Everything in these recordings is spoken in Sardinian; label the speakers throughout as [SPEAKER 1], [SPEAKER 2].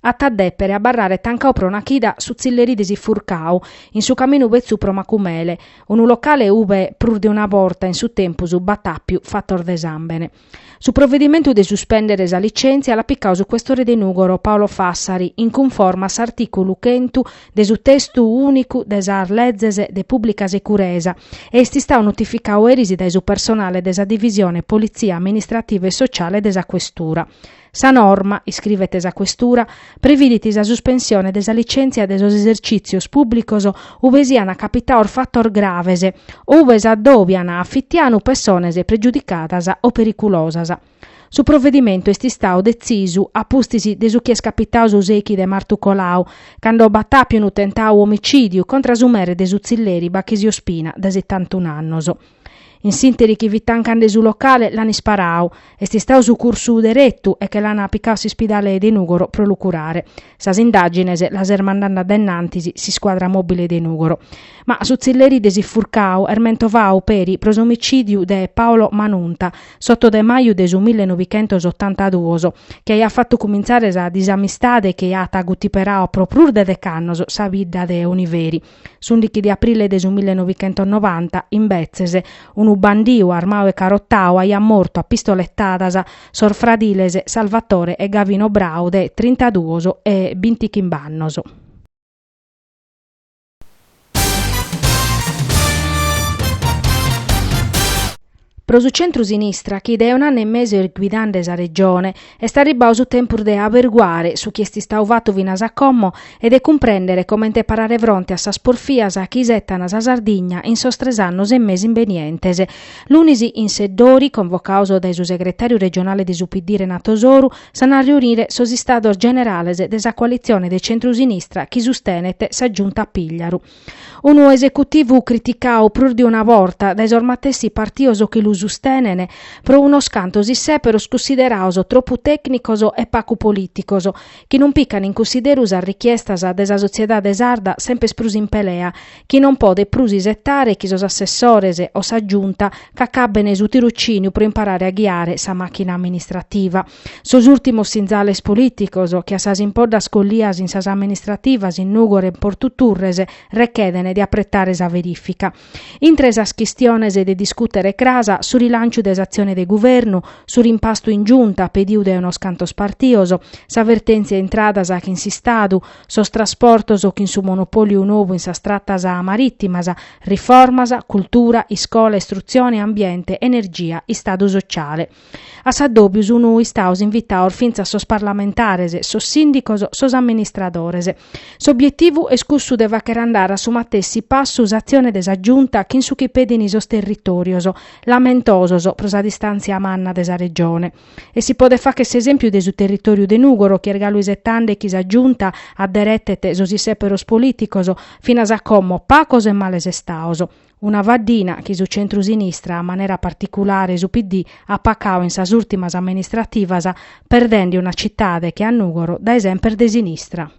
[SPEAKER 1] At a dèpere abarrare tancau pro una chida su tzilleri de s'Ifurcau, in su caminu betzu pro Macumele, unu locale ube prus de una borta in su tempus b'at àpiu fatos de sàmbene. Su provedimentu de suspèndere sa licèntzia l'at picau su questore de Nùgoro Paolo Fassari in cunforma a s'artìculu chentu de su testu ùnicu de sas lezes de pùblica securesa e est istau notificau eris dae su personale de sa divisione politzia amministrativa e sociale de sa questura. Sa norma, iscrivet sa Questura, previdit sa suspensione de sa licèntzia de sos esercìtzios pùblicos ube siant capitaos fatos graves o ube s'addòbian a fitianu pessones pregiudicadas o periculosas. Su provedimentu est istau detzisu a pustis de su chi est capitau su sechi de martu colau, cando b'at àpiu unu tentau omicìdiu contra su mere de su tzilleri Bachisio Spina, de setantun annos. In s'interi chi fit tancande su locale l'an isparau. Est istau sucursu deretu e che l'an picau a s'ispidale de Nùgoro pro lu curare. Sas indàgines las est mandande a dennantis s'iscuadra mòbile de Nùgoro. Ma su tzilleri de s'Ifurcau est mentovau peri pro s'omicìdiu de Paolo Manunta, s'oto de maju de su mille novichentos otantaduos, chi aiat fatu cumintzare sa disamistade chi at gutiperau pro prus de dec'annos sa bidda de Oniveri. S'ùndichi de aprile de su millenovichentosnovanta, imbetzes, unu bandiu armau e carotau aiat mortu a pistoletadas sos fradiles Salvatore e Gavino Brau de trintaduos e bintichimb'annos. Pro su centru-sinistra, chi dae un'annu e mesu est guidande sa Regione, est arribbau su tempus de averguare su chi est istau fatu finas a como e de cumprèndere comente parare fronte a sas porfias chi isetan sa Sardigna in sos tres annos e mesu imbenientes. Lunis in Seddori, convocaos dae su segretàriu regionale de su PD Renato Soru, s'an a reunire sos Istados Generales de sa coalitzione de centru-sinistra chi sustenet sa Giunta Pìgliaru. Unu esecutivu criticau prus de una borta dae sos matessi partios chi lu sustenent, pro unos cantos issèperos cunsideraos tropu tècnicos e pacu polìticos, chi non picant in cunsideru sas richiestas de sa sotziedade sarda sempes prus in pelea, chi non podet prus isetare chi sos assessores o sa Giunta ch'acabben su tirocìniu pro imparare a ghiare sa màchina amministrativa. Sos ùltimos sinzales polìticos, che a sas impoddas collias in sas amministrativas in Nùgoro e in Portu Turres, rechedene de apretare sa verìfica. Intre sas chistiones de discùtere cras, su rilànciu de s'atzione de guvernu, su rimpastu in Giunta pediu dae unos cantos partios, sa vertèntzia intradas chin s'Istadu, sos trasportos chin su monopòliu novu in sas tratas marìtimas, riformas, cultura, iscola, istrutzione, ambiente, energia, Istadu sociale. A s'addòbiu sun istados invitados fintzas sos parlamentares, sos sìndicos, sos amministradores. S'obietivu est cussu de fàghere andare a su matessi passu s'atzione de sa Giunta chin su chi pedin sos territòrios, lamentosos pro sa distàntzia manna de sa Regione. E si podet fàghere s'esèmpiu de su territòriu de Nùgoro chi est galu isetende chi sa Giunta adderetet sos isèperos polìticos finas a como pagos e males istados. Una faddina chi su centru-sinistra, a manera particulare su PD, at pacau in sas ùrtimas amministrativas, perdende una citade che a Nùgoro dae semper de sinistra.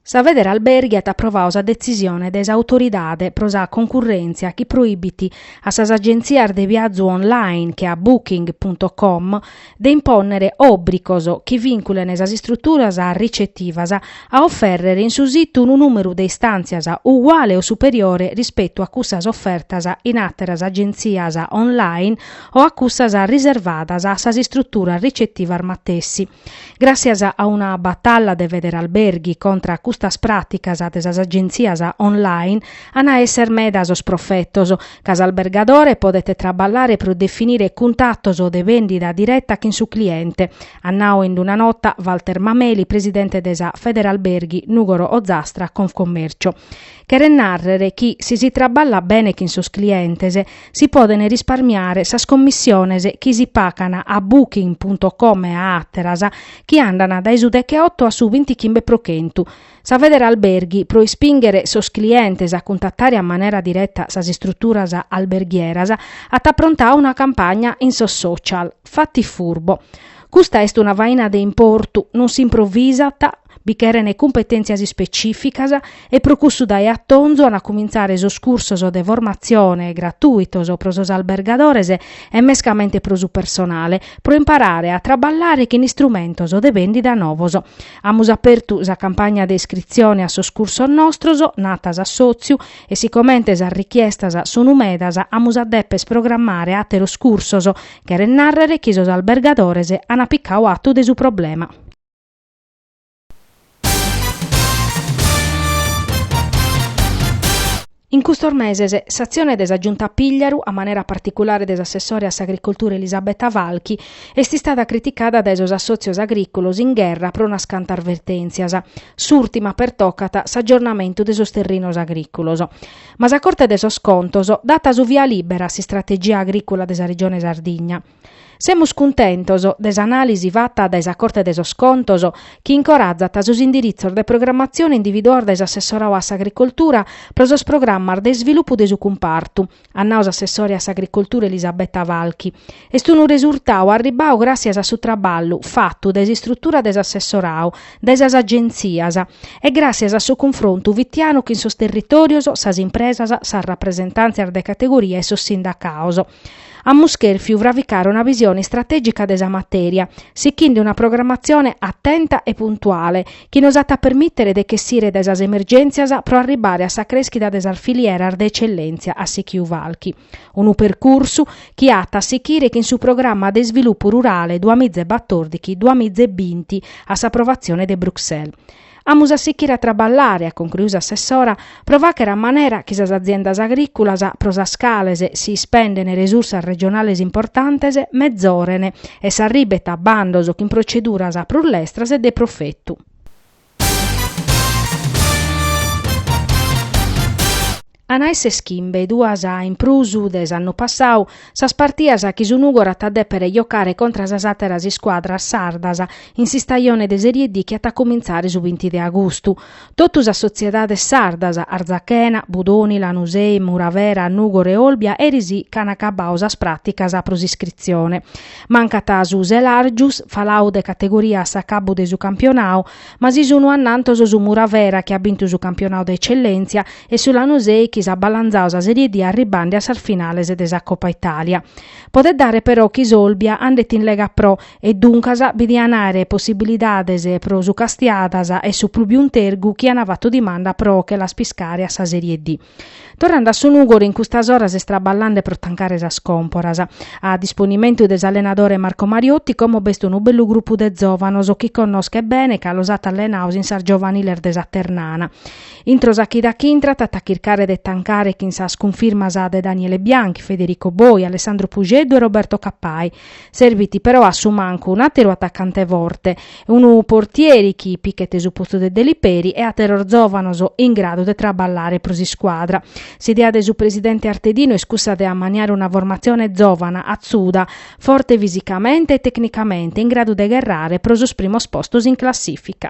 [SPEAKER 1] Sa Federalberghi at aprovau sa detzisione de s'Autoridade pro sa Concurrèntzia chi proibit a sas agentzias de viazu online che a Booking punto com de impònnere òbricos chi vìnculen sas istruturas ricetivas a ofèrrere in su situ unu nùmeru de istàntzias uguale o superiore rispetu a cussas ofertas in àteras agentzias online o a cussas riservadas a sas istruturas ricetivas matessi. Gràssias a una batalla de Federalberghi contra a custas pràticas de sas agentzias online, an a èssere meda sos profetos ca s'albergadore podet traballare pro definire cuntratos de bèndida direta chin su cliente, at nau in una nota Walter Mameli, presidente de sa Federalberghi Nùgoro Ozastra Confcommercio. Cheret nàrrere chi si si traballat bene chin sos clientes si podent risparmiare sas commissiones chi si pagan a Booking punto com e a àteras chi andant dae su decheoto a su bintichimbe pro chentu, Sa Federalberghi, pro ispìnghere sos clientes a cuntatare a manera direta sas istruturas alberghieras, at aprontadu una campagna in sos social, Fatti furbo. Custa est una faina de importu, non s'improvvisat, bi cherent cumpetèntzias ispecìficas e pro cussu dae a tonzu ant a cumintzare sos cursos de formatzione gratuitos pro sos albergadores e mescamente pro su personale pro imparare a traballare chin istrumentos de bèndida novos. Amus apertu sa campagna de iscritzione a sos cursos nostros, nat s'assòtziu, e sicomente sas richiestas sun medas amus a deper programmare àteros cursos, cheret nàrrere chi sos albergadores an picadu atu de su problema. In custos meses s'atzione de sa Giunta Pigliaru, a manera particulare de s'assessore a s'Agricoltura Elisabetta Falchi, est istada criticada dae sos assòtzios agrìculos in gherra pro unas cantas vertèntzias, s'ùrtima pertocat s'agiornamentu de sos terrinos agrìculos. Ma sa Corte de sos Contos dat su via lìbera a s'istrategia agrìcula de sa Regione Sardigna. Semus cuntentos de s'anàlisi fata dae sa Corte de sos Contos chi incorazat sos indiritzos de programatzione individuados dae s'assessoradu a s'Agricoltura pro sos programmas de isvilupu de su cumpartu, at nadu s'assessore a s'Agricoltura Elisabetta Falchi. Est unu resurtadu arribadu gràssias a su traballu fatu dae s'istrutura de s'assessoradu, dae sas agentzias e gràssias a su cunfrontu fitianu chin sos territòrios, sas impresas, sas rapresentàntzias de categoria e sos sindacados. Amus chèrfiu fravicare una visione istratègica de sa matèria, sichende una programatzione atenta e puntuale chi nos at a permìtere de ch'essire dae sas emergèntzias pro arribare a sa crèschida de sas filieras de etzellèntzia at sichiu Falchi. Unu percursu chi at a sichire chin su Programma de isvilupu rurale duamiza e batòrdighi-duamiza e binti a s'aprovatzione de Bruxelles. Amus a sichire a traballare, at concruiu s'assessora, pro fàghere a manera chi sas aziendas agrìculas, pro sas cales si ispendent resursas regionales importantes, mezoren e s'arribent a bandos chin proceduras prus lestras e de profetu. An a èssere chimbe duas in prus de s'annu passau sas partias chi su Nùgoro at a dèpere jocare contra sas àteras iscuadras sardas in s'istajone de Serie D chi at a cumintzare su binti de agustu. Totu sas sotziedades sardas, Arzachena, Budoni, Lanusei, Muravera, Nùgoro e Olbia eris ch'an acabau sas pràticas pro s'iscritzione. Mancat su Selàrgius, falau de categoria a s'acabu de su campionau, Ma si sunu annantos su Muravera chi at bintu su campionau de Ecellentzia e su Lanusei chi s'at balanzau sa Serie D arribande a sas finales de sa Coppa Italia. Podet dare però chi s'Olbia andet in Lega Pro e duncas bi diant àere possibilidades pro su Castiadas e su Plubium Tergu chi ant fatu dimanda pro che las piscare a sa Serie D. Torrande a su Nùgoro in custas oras est traballande pro tancare sas còmporas. A disponimentu de s'allenadore Marco Mariotti como b'est unu bellu grupu de zòvanos chi connoschet bene ca los at allenados in sas giovaniles de sa Ternana. Intro sa chida chi intrat at a chircare de tancare chin sas cunfirmas de Daniele Bianchi, Federico Boi, Alessandro Puxeddu e Roberto Cappai. Serbit però a su mancu un'àteru atacante forte, unu portieri chi pichet su postu de Deliperi e àteros zòvanos in gradu de traballare pro s'iscuadra. S'idea de su presidente Artedinu est cussa de ammaniare una formatzione zòvana, atzuda, forte fisicamente e tecnicamente, in gradu de gherrare pro sos primos postos in classìfica.